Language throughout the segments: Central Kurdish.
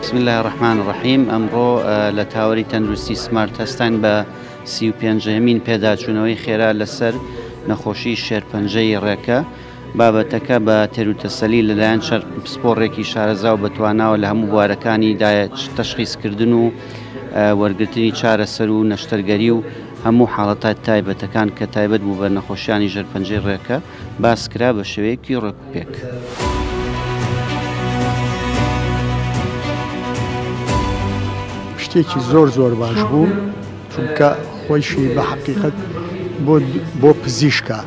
بسم الله الرحمن الرحیم ئەمڕۆ لە تاوەری تەندروستی سمارت هەستان بە سی و پێنجەمین پێداچوونەوەی خێرا لەسەر نەخۆشی شێرپەنجەی ڕێکە بابەتەکە بە تێروتەسەلی لەلایەن چەند پسپۆڕێکی شارەزا و بەتواناوە لە هەموو بوارەکانیدا تەشخیسکردن و وەرگرتنی چارەسەر و نەشتەرگەری و هەموو حاڵەتە تایبەتەکان کە تایبەت بوو بە نەخۆشیانی ژێر پەنجەی ڕێکە باس کرا بە شێوەیەکی ڕێکوپێک. شتێکی زۆر زۆر باش بوو. چونکە خۆیشی بە حەقیقەت بۆ بۆ پزیشکە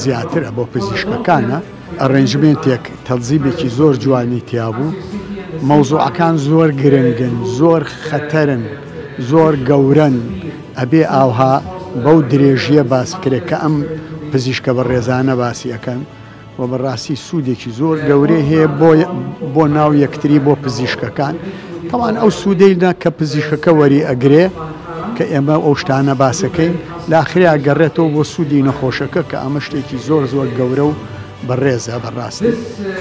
زیاترە بۆ پزیشکەکانە ئەڕێنجمێنتێک تەزیبێکی زۆر جوانی تیابوو مەوزوعەکان زۆر گرنگن زۆر خەتەرن زۆر گەورەن ئەبێ ئاوها بەو درێژیە باس کرێت کە ئەم پزیشکە بە ڕێزانە باسی ئەەکەن وە بەڕاستی سوودێکی زۆر گەورەی هەیە بۆ بۆ ناو یەکتری بۆ پزیشکەکان تاوان ئەو سوودەیدا کە پزیشکەکە وەری ئەگرێ کە ئێمە ئەو شتانە باسەکەین لاخریا گەڕێتەوە بۆ سوودی نەخۆشەکە کە ئەمە شتێکی زۆر زۆر گەورە و بەڕێزە بەڕاستی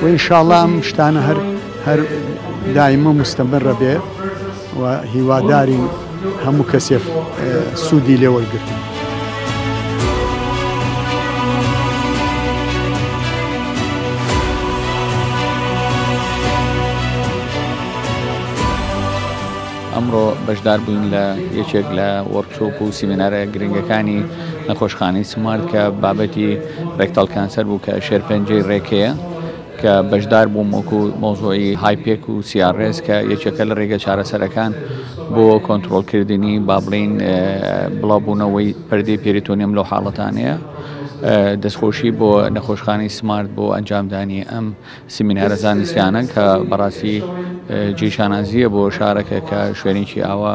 وینشاڵام شتانە هەر هەر دایمە مستەمەڕە بێ و هیوادارین هەموو کەسێک سوودی لێ وەرگرتن. ئەمڕۆ بەشدار بووین لە یەکێک لە وەرچۆپ و سیمینارە گرنگەکانی نەخۆشخانەی سمارت کە بابەتی ڕێکتەڵ کانسەر بوو کە شێرپەنجەی ڕێکەیە کە بەشدار بووم وەکو مۆزۆی هایپێک و سیارڕێز کە یەکێکە لە ڕێگە چارەسەرەکان بۆ کۆنتترۆلکردنی بابلین بڵاوبوونەوەی پردی پێریتۆنیم لەو حاڵەتانەیە دەستخۆشی بۆ نەخۆشخانی سمارت بۆ ئەنجامدانی ئەم سیمینارە زانستیانە کە بەڕاستی جێ شانازیە بۆ شارەکە کە شوێنێکی ئاوا